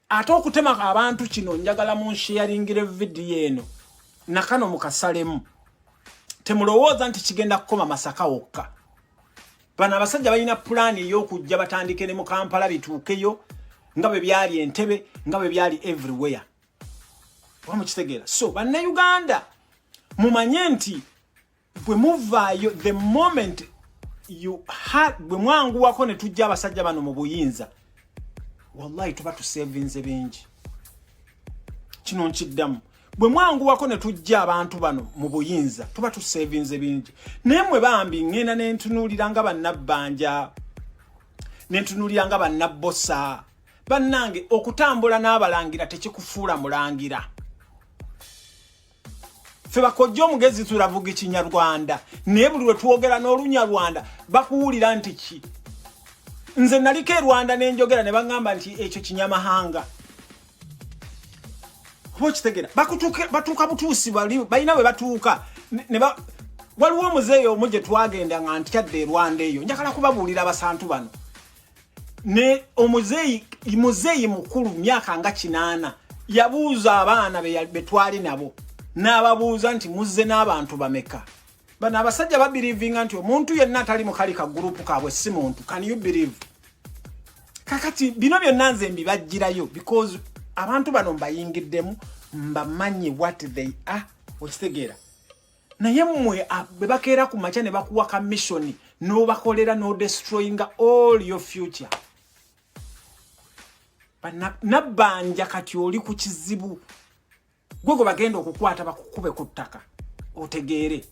ate okutema abantu kino njagala munsheyaringire vidiyo eno nakano mukasalemu temulowooza nti kigenda kukoma masaka wokka bano abasajja balina pulaani ey'okujja batandike ne mu kampala bituukeyo nga bwe byali entebe nga bwe byali everywhere oba mukitegeera so bannayuganda mumanye nti bwe muvaayo the moment you had bwe mwanguwako ne tujja abasajja bano mu buyinza wallahi tuba tusevinze bingi kino nkiddamu bwe mwanguwako ne tujja abantu bano mu buyinza tuba tusevinze bingi naye mwe bambi ŋŋenda ne ntunuulira nga bannabbanja ne ntunuulira nga bannabbosa bannange okutambula n'abalangira tekikufuula mulangira ffe bakojja omugezi tulavuga ekinyarwanda naye buli lwetwogera n'olunyarwanda bakuwulira nti ki nze naliko e rwanda nenjogera ne baŋŋamba nti ekyo kinyamahanga oba okitegera batuuka butuusi bali balina bwe batuuka waliwo omuzeeyi omu gye twagenda nga ntyadde e rwanda eyo njagala kubabuulira abasantu bano ne omuzeyi muzeyi mukulu myaka nga kinana yabuuza abaana betwali nabo n'ababuuza nti muzze n'abantu bameka bano abasajja babirivinga nti omuntu yenna atali mukali ka gurupu kaabwe si muntu can you believe kakati bino byonna nze mbibajjirayo because abantu bano mbayingiddemu mbamanyi what they are okitegeera naye mwe ah, bebakeera ku makya ne bakuwa ka missioni nobakolera no destroyinga all your future nabbanja kati oli ku kizibu gwe gwe bagenda okukwata bakukube ku ttaka otegeere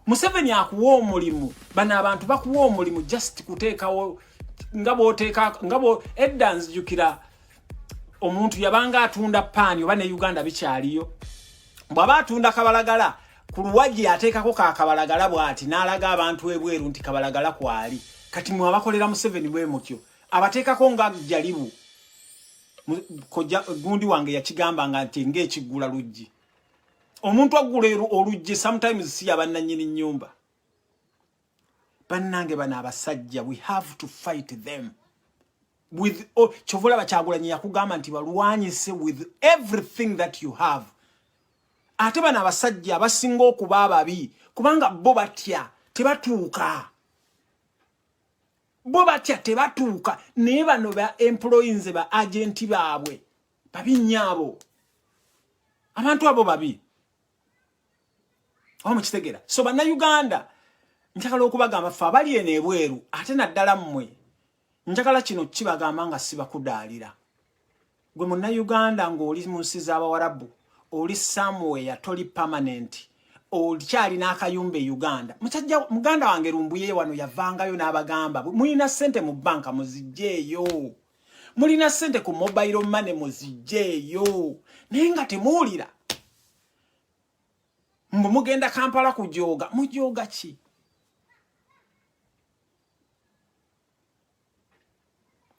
museveni akuwa omulimu bano abantu bakuwa omulimu just kuteekawo nga bwoteeka nga edda nzijukira omuntu yabanga atunda paani oba ne uganda bikyaliyo bwaba atunda kabalagala ku luwagi ateekako ka kabalagala bwati n'alaga abantu ebweru nti kabalagala kwali kati mwe abakolera museveni bwe mutyo abateekako nga jalibu koja gundi wange yakigamba nga nti ng'ekiggula luggi omuntu aggula oluggi sometimes si yabannanyini nnyumba bannange bano abasajja we have to fight them with oh, kyova olaba kyagulanyi yakugamba nti balwanyise with everything that you have ate bano abasajja abasinga okuba ababi kubanga bo batya tebatuuka bo batya tebatuuka naye bano ba employi nze ba agenti baabwe babi nyaabo abantu abo babi oba mukitegera so bannayuganda njagala okubagamba fe abali eno ebweru ate naddala mmwe njagala kino kibagamba nga sibakudaalira gwe munnayuganda ng'oli mu nsi z'abawarabu oli samuweya toli pamanenti okyalina akayumba e uganda musajja muganda wange lumbuye wano yavangayo n'abagamba mulina ssente mu bbanka muzijjeeyo mulina sente ku mobile money muzijeeyo naye nga temuwulira mbu mugenda kampala kujooga mujooga ki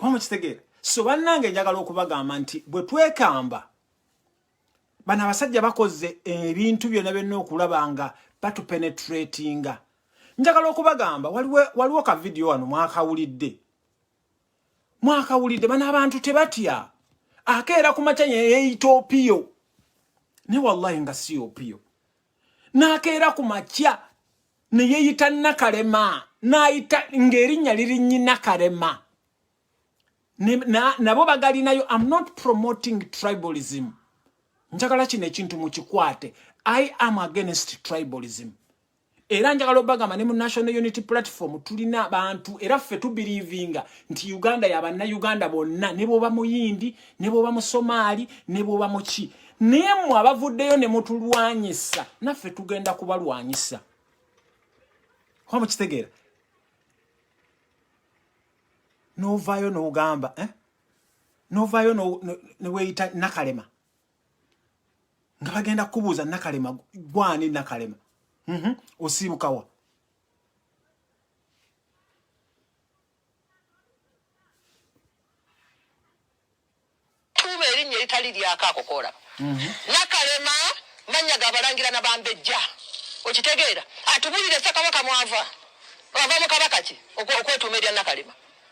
oba mukitegeera so bannange njagala okubagamba nti bwe twekamba bano abasajja bakoze ebintu byonna byonna okulaba nga batupenetratinga njagala okubagamba waliwo ka vidiyo wano mwakawulidde mwakawulidde bano abantu tebatya akeera ku makya yeyeyita opiyo ne wallahi nga si opiyo n'akeera ku makya ne yeyita nakalema n'ayita ng'erinnya lirinnyi nakalema nabo bagalinayo am not promoting tribalism njagala kino ekintu mukikwate i am against tribalism era njagala obagamba ne mu national unity platform tulina abantu era ffe tubirivinga nti uganda yabanna uganda bonna ne bwoba muyindi ne bwoba musomaali ne bwoba muki naye mwe abavuddeyo ne mutulwanyisa naffe tugenda kubalwanyisa oba mukitegeera novaayo nogamba eh? novaayo neweyita nakalema nga bagenda kukubuuza nakalema gwani nakalema mm -hmm. osiibukawa tuuma erinnya eritali lyako akokoola mhm. nakalema mannya gabalangira na bambejja okitegeera atubulire sakabaka mwava wava mu kabaka ki okwetuuma erya nakalema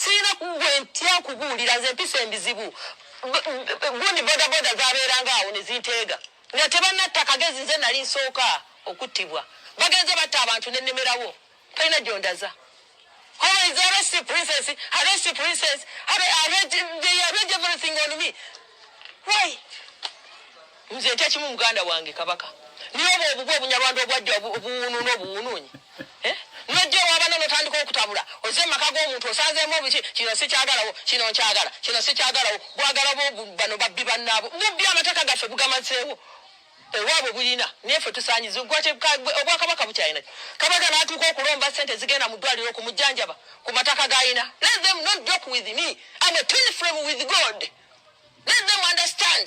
sirina gwe ntya okubuulira nze mpisa embizibu gundi bodaboda zabeeranga awo nezinteega nga tebanatta kagezi nze nali nsooka okuttibwa bagenze batta abantu nenemerawo talina gyondaza nze ntya kimu muganda wange kabaka niye obwo obubwa obunyarwanda obwajja obuwunu n'obuwununyi eh? nojja ewabana notandika okutabula oze mumaka g'omuntu osanzeemu obuki kino sikyagalawo kino nkyagala kino sikyagalawo gwagala bano babbi bannaabo bubbi amateka gaffe bugamazeewo ewaabwe bulina nefe tusanyiza obwakabaka bukyalina kabaka natuuka okulomba sente zigenda mu ddwaliro ku mujjanjaba ku mataka galina let them not joke with me am a twin frame with god let them understand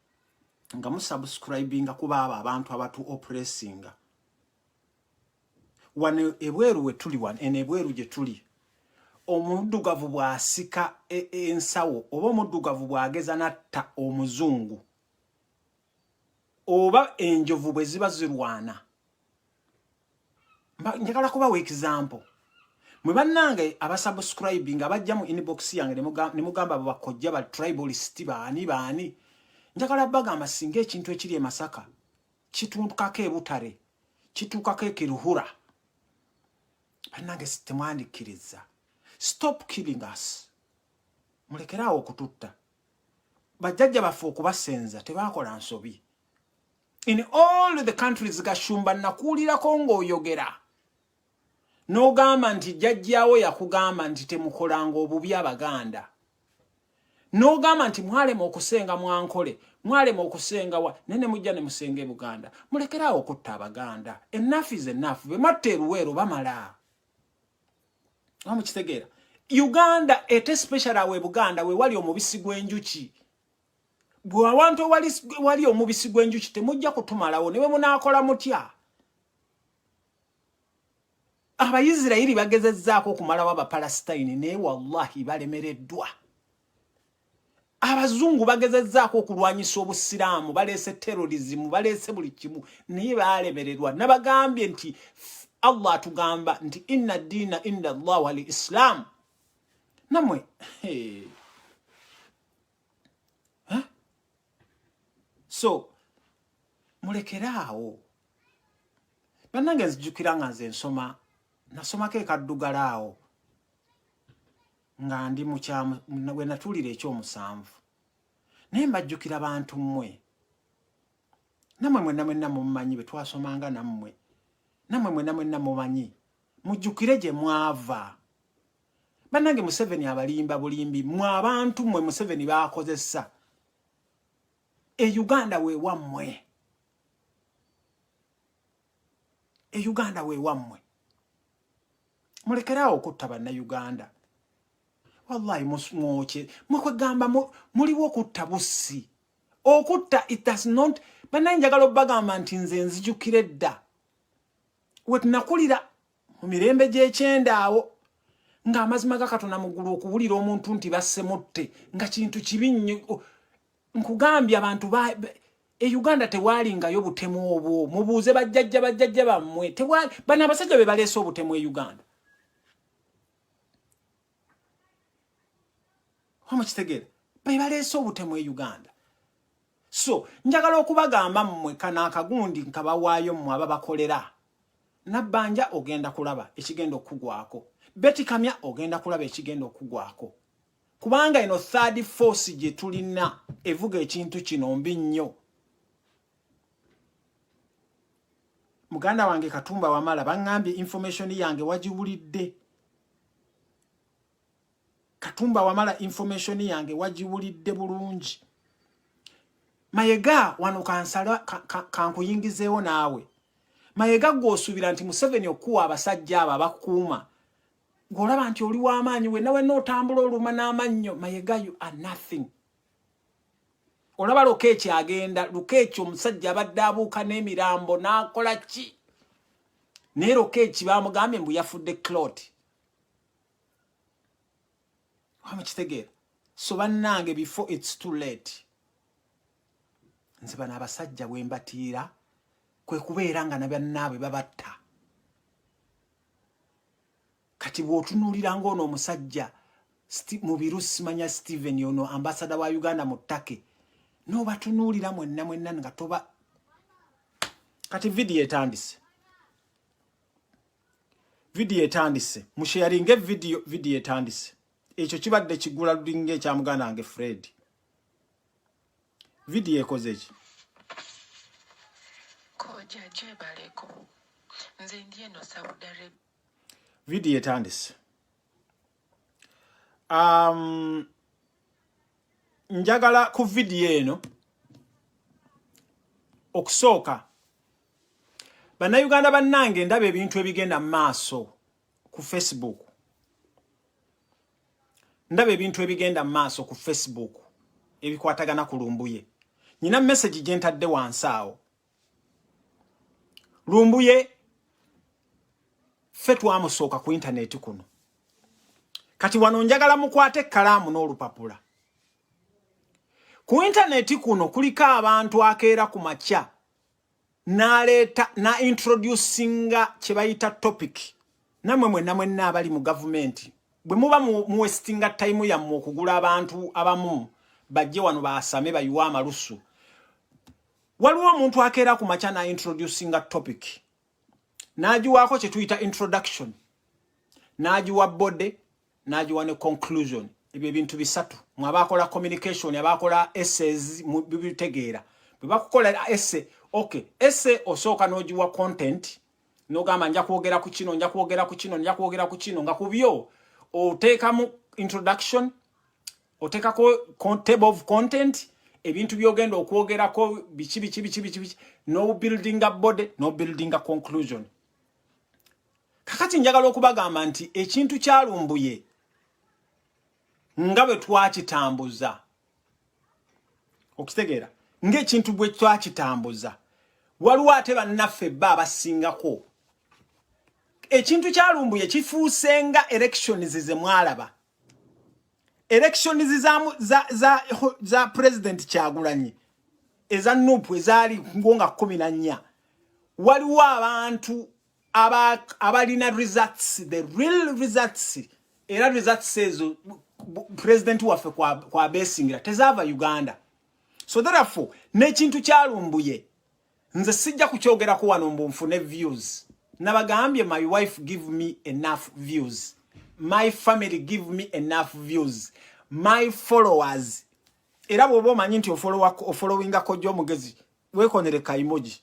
nga musubscribinga kuba abo abantu abatu oppressinga wano ebweru wetuli wano eno ebweru gye tuli omuddugavu bw'asika e, e, ensawo oba omuddugavu bw'ageza n'atta omuzungu oba enjovu bwe ziba zirwana njagala kubawa example mwe bannange abasubscribing abajja mu inbox yange ne mugamba abo bakojja ba tribalist baani baani njagala bagamba singa ekintu ekiri e masaka kituukako e butare kituukako e kiruhura bannange temwandikkiriza stop killing us mulekeraawo okututta bajjajja baffe okubasenza tebaakola nsobi in all the countries gashumba nakuulirako ng'oyogera n'ogamba nti jajjawo yakugamba nti temukolanga obubi abaganda n'ogamba nti mwalema okusenga mwankole mwalema okusenga wa naye ne mujja ne musenga e buganda mulekeraawo okutta abaganda enafu is enafu be matta eruweero bamala a mukitegeera uganda ete special awe buganda we wali omubisi gw'enjuki gwe awantu ewali wali omubisi gw'enjuki temujja kutumalawo ne bwe munaakola mutya abayisirayiri bagezezzaako okumalawo abapalasitayini naye wallahi balemereddwa abazungu bagezezzaako okulwanyisa obusiraamu baleese terorizimu baleese buli kimu naye balemererwa nabagambye nti allah atugamba nti inna diina inda allah wali isilaamu namwe hey. huh? so mulekere awo bannange nzijukira nga nze nsoma nasomako ekaddugala awo nga ndi mukyamu we natuulira ekyomusanvu naye mbajjukira bantu mmwe namwe mwenna mwenna mumumanyi bwe twasomanga nammwe namwe mwenna mwenna mumanyi mujjukire gye mwava banange museveni abalimba bulimbi mwe abantu mwe museveni bakozesa e uganda wewammwe e uganda wewammwe mulekeraawo okutta bannayuganda wallahi mwokye mwekwegamba muliwo okutta bussi okutta it does not banaye njagala obagamba nti nze nzijukira edda wetunakulira mu mirembe gy'ekyenda awo ng'amazima ga katonda mu ggulu okuwulira omuntu nti bassemutte nga kintu kibi nnyo nkugambye abantu e uganda tewaalingayo butemu obwo mubuuze bajjajja bajjajja bammwe bano abasajja be baleese obutemu e uganda omukitegere bebaleese obutemu e uganda so njagala okubagamba mmwe kana akagundi nkabawaayo mmwe ababakolera nabbanja ogenda kulaba ekigenda okukugwako betikamya ogenda kulaba ekigenda okukugwako kubanga eno third force gye tulina evuga ekintu kino mbi nnyo muganda wange katumba wamala baŋŋambye information yange wagiwulidde katumba wamala information yange wagiwulidde bulungi mayega wano kansala kankuyingizeewo ka, ka naawe mayega gweosuubira nti museveni okuwa abasajja abo abakuuma ng'olaba nti oli w'amaanyi we nawe nootambula oluma n'amannyo mayega you are nothing olaba lukeeki agenda lukeeki omusajja abadde abuuka n'emirambo n'akola ki naye lukeeki bamugambye mbu yafudde clot wamukitegeera so bannange before its too late nze bano abasajja bwe mbatiira kwe kubeera nga nabannaabwe babatta kati bwotunulira nga ono omusajja mubiru simanya steven ono ambasada wa uganda mu take nobatunulira mwenna mwenna nga toba kati vidiyo etandise vidiyo etandise musheyaringe vidiyo vidiyo etandise ekyo kibadde kigula lulinga ekya muganda wange fred vidiyo ekoze eki koja jebaleko nze ndi eno saudi arabia vidiyo etandise um, njagala ku vidiyo eno okusooka bannayuganda bannange ndaba ebintu ebigenda mu maaso ku facebook ndaba ebintu ebigenda mu maaso ku facebook ebikwatagana ku lumbuye nyina mesagi gye ntadde wansi awo lumbuye ffe twamusooka ku intaneti kuno kati wano njagala mukwate ekkalaamu n'olupapula ku intaneti kuno kuliko abantu akeera ku makya n'aleeta na introducinga kye bayita topic namwe mwenna mwenna abali mu gavumenti bwe muba muwesitinga tayimu yammwe okugula abantu abamu bajje wano baasame bayiwe amalusu waliwo omuntu akeera ku makya na introducinga topic n'agiwaako kye tuyita introduction n'agiwa body n'agiwa ne conclusion ebyo ebintu bisatu mu abaakola communication abaakola essays bibitegeera bwe bakukola esse okay esse osooka n'ogiwa content n'ogamba nja kwogera ku kino nja kwogera ku kino nja kwogera ku kino nga ku byo oteekamu introduction otekako table of content ebintu byogenda okwogerako biki biki biki biki biki no building a body no building a conclusion kakati njagala okubagamba nti ekintu kyalumbuye nga bwe twakitambuza okitegeera ng'ekintu bwe twakitambuza waliwo ate bannaffe bba abasingako ekintu kyalumbuye kifuuse nga elections ze mwalaba elections za za za, za president kyagulanyi eza nupu ezaali ngonga kumi na nnya waliwo abantu abalina results the real results era results ezo president waffe kwabesingira kwa tezaava uganda so therefore nekintu kyalumbuye nze sijja kukyogerako wano mbu nfune views nabagambye my wife give me enough views my family give me enough views my followers era bwoba omanyi nti ofolowingako gyo omugezi wekonere kaimoji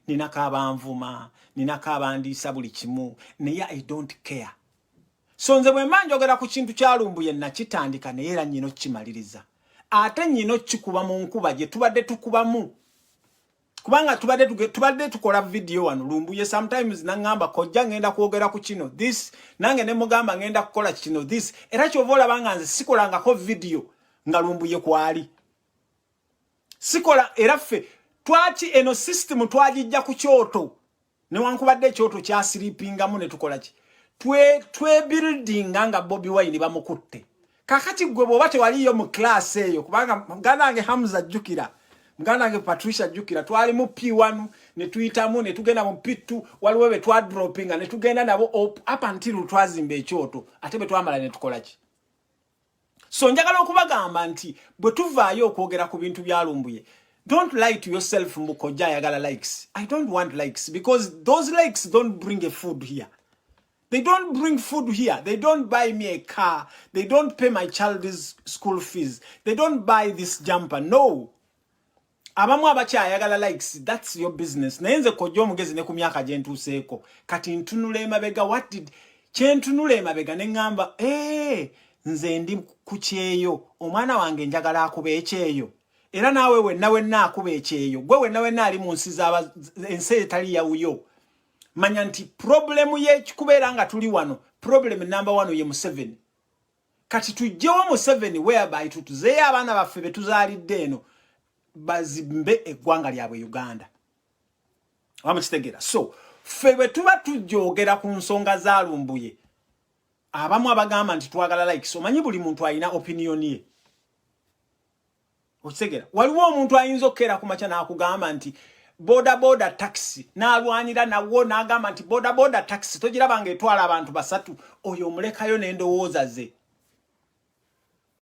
ninako abanvuma ninako abandiisa buli kimu naye i don't care so nze bwe mba njogera ku kintu kya lumbuye nakitandika naye era nyina okukimaliriza ate nyina okukikuba mu nkuba gye tubadde tukubamu kubanga tubadde tubadde tukola vidiyo wano lumbuye sometimes naŋŋamba kojja ŋŋenda kwogera ku kino this nange ne mugamba ŋŋenda kukola kino this era kyova olaba nga nze sikolangako vidiyo nga lumbuye kwali sikola era ffe twaki eno system twagijja ku kyoto newankubadde ekyoto kyasiripingamu ne tukola ki twebuildinga nga bobi wine bamukutte kakati gwe bwoba tewaliyo mu class eyo kubanga muganda wange hamza jjukira muganda wange patricia jjukira twali mu p1 ne tuyitamu ne tugenda mu p2 waliwo be twadropinga ne tugenda nabo up until twazimba ekyoto ate bwe twamala ne tukola ki so njagala okubagamba nti bwe tuvaayo okwogera ku bintu bya lumbuye don't lie to yourself mbu kojja ayagala likes i don't want likes because those likes don't bring a food here they don't bring food here they don't buy me a car they don't pay my child's school fees they don't buy this jumper no abamu abakyayagala likes that's your business naye nze kojja omugezi ne ku myaka gye ntuuseeko kati ntunula emabega what did kye ntunula emabega ne ŋŋamba ee nze ndi ku kyeyo omwana wange njagala akuba ekyeyo era naawe wenna wenna akuba ekyeyo gwe wenna wenna ali mu nsi zaba ensi etali yawuyo manya nti problemu yekubeera nga tuli wano problemu namba wano ye museveni kati tujjewo museveni whereby tutuzeeyo abaana baffe betuzaalidde eno bazimbe eggwanga lyabwe uganda oba mukitegera so ffe bwe tuba tujogera ku nsonga zalumbuye abamu abagamba nti twagala likes omanyi buli muntu alina opiniyoni ye okitegera waliwo omuntu ayinza okukeera ku makya n'akugamba nti bodaboda taxi n'alwanira nawo n'agamba nti bodaboda taxi togiraba nga etwala abantu basatu oyo omulekayo n'endowooza ze